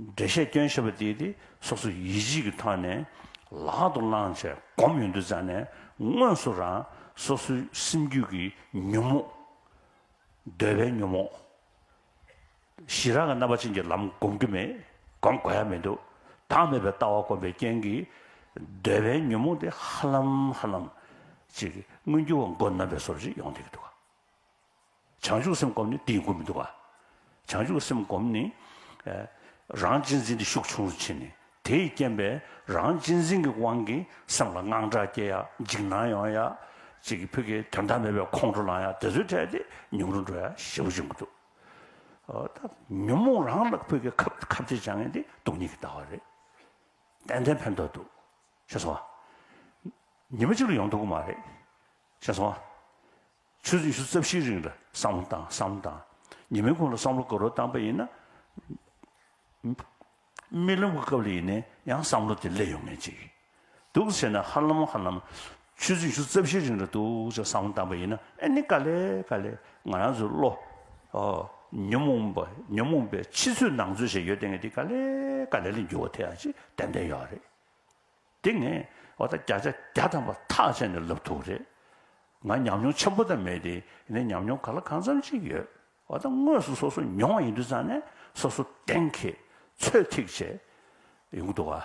འགྲེལ་བཤད་སྐྱོན་བཤད་པ་དེས་དེ་སོ་སོ་ཡིད་བཞིན་གྱི་ཐོག་ནས་ལག་ཏུ་བླངས་ཆེད་སྒོམ་ཡོད་འདུག་ཙང་ནས་དངོས་སུ་རང་སོ་སོའི་སེམས་རྒྱུད་ཀྱི་ཉོན་མོངས། འདོད་པའི་ཉོན་མོངས། ཞི་རགས་ཀྱི་རྣམ་པ་ཅན་གྱི་ལམ་སྒོམ་གྱི་མེད་སྒོམ་དགོས་ཡ་མི་འདུག་བདག་མེད་པའི་ལྟ་བ་སྒོམ་པའི་རྐྱེན་གྱིས་འདོད་པའི་ཉོན་མོངས་དེ་ཧ་ལམ་ཧ་ལམ་ཅིག་མངོན་གྱུར་བ་མགོ་ནམ་པའི་སོར་བཞི་ཡོང་སྡད་ཀྱི་འདུག་ག། བྱང་ཆུབ་སེམས་བསྒོམ་ནི་དེ་ཡི་སྒོ་མི་འདུག་ག། བྱང་ཆུབ་སེམས་བསྒོམ་ནི། རང་གཅེས་འཛིན་དེ་ཤུགས་ཆུང་རུ་ཕྱིན་ནས་དེས་རྐྱེན་པས་རང་གཅེས་འཛིན་གྱི་དབང་གིས་སེམས་ལ་དངངས་སྐྲག་སྐྱེ་ཡ། འཇིགས་སྣང་ཡོང་ཡ། ཅིག་གིས་ཕུད་ཀྱི་དོན་དག་མེད་པའི་ཁོང་ཁྲོ་ལང་ཡ་དེ་ཚོའི་གྲས་དེ་ཉུང་རུ་འགྲོ་ཡ་ཞེ་བོ་བྱུང་གི་འདུག་གདའ། ཉོན་མོངས་རང་བརླག་ཕུད་ཀྱི་ཁ་བརྡའི་བྱ་ངན་དེ་སྡུག་སྙིང་གིས་འདའ་བ་རེད། ཏན་ཏན་ཕན་ཐོགས་འདུག་ཤེས་སོང་ང། ཉི་མ་གཅིག་ལ་ཡོང་ཐུབ་ཀྱི་མ་རེད། ཤེས་སོང་ང། ཆུ་ཚོད་བཞི་རྩ་བཞིའི་རིང་ལ་བསམ་བློ་བཏང་བསམ་བློ་བཏང། ཉིན་མོའི་ཁོངས་ལ་བསམ་བློ་དགའ་རོགས་བཏང་པ་ཡིན་ན། རྨི་ལམ་གྱི་སྐབས་ལ་ཡིན་ནའི་ཡང་བསམ་བློ་དེ་སླེབས་ཡོང་ངེས་ཅིག་ཡིན། འདུག་ཟེར་ན་ཧ་ལམ་ཧ་ལམ། ཆུ་ཚོད་བཞི་རྩ་བཞིའི་རིང་ལ་འདུག་ཅེས་བསམ་བློ་བཏང་པ་ཡིན་ན་ཨེ་ནི་དཀའ་ལས་དཀའ་ལས་ང་རང་ཚོའི་བློ། ཉོན་མོངས་པ་ཉོན་མོངས་པའི་ཕྱི་ཚོད་ནང་ཚོད་ཞེས་ཡོད་དེ་ངས་འདི་དཀའ་ལས་དཀའ་ལས་ལ་འགྱུར་བ་ཐེག་ཡ་ཅིག་ཏན་ཏན་ཡོད་རེད། འདི་ངས་བ་ད་བརྒྱ་ཆ་བརྒྱ་ཐམ་པ་ཐག་བཅད་ནས་ལབ་ཐུག་རེད། ང་ཉམས་མྱོང་ཆེན་པོ་ད་མེད་དེ་ཡིན་ན་ཉམས་མྱོང་ག་ལ་གང་འཚམ་ཅིག་ཡོད། བ་ད་དངོས་སུ་སོ་སོ་མྱོང་བ་ཡིན་དུས་ཙང་ནས་སོ་སོ་གཏན་འཁེལ་ཚོད་ཐིག་བྱས་ཡོང་གི་འདུག་ག།